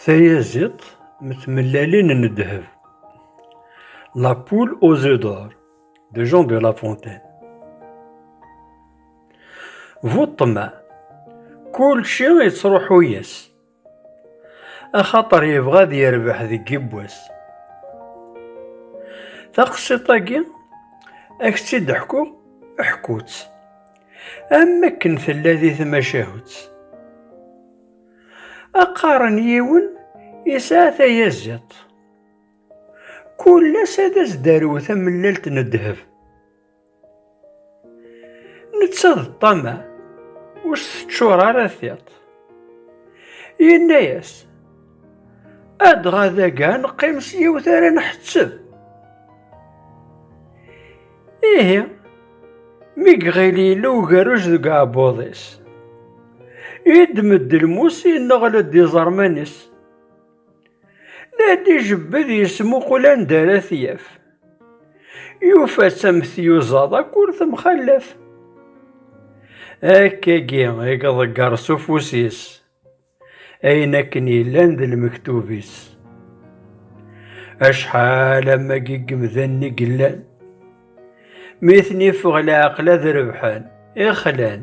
Tayaziḍt m tmellalin n ddheb. La poule aux œufs d'or de Jean de La Fontaine. Bu ṭṭmeɛ, kulci yettruḥu-yas, axaṭer yebɣa ad yerbeḥ deg yibwas. Taqsiṭ-agi, ad k-tt-id-ḥkuɣ, ḥku-tt. am akken tella di tmacahut. Aqaren yiwen yesɛa tayaziḍt. Kul ass ad as-d-arew tamellalt n ddheb. Netta d ṭṭama, ur s-teččur ara tiṭ. Yenna-yas, Adɣa daga neqqim s yiwet ara nḥetteb. Ihi, mi iɣil yella ugerruj deg uɛebbuḍ-is, yeddem-d lmus yenneɣl-d iẓerman-is. La d-ijebbed yesmuqul anda ara t-yaf. Yufa-tt am tyuzaḍ akk ur temxallaf. Akkagi i iḍegger s ufus-is. ayen akken yellan d lmektub-is. Acḥal amagi n yemdanen i yellan, mi ten-iffeɣ leɛqel ad rebḥen, ixlan.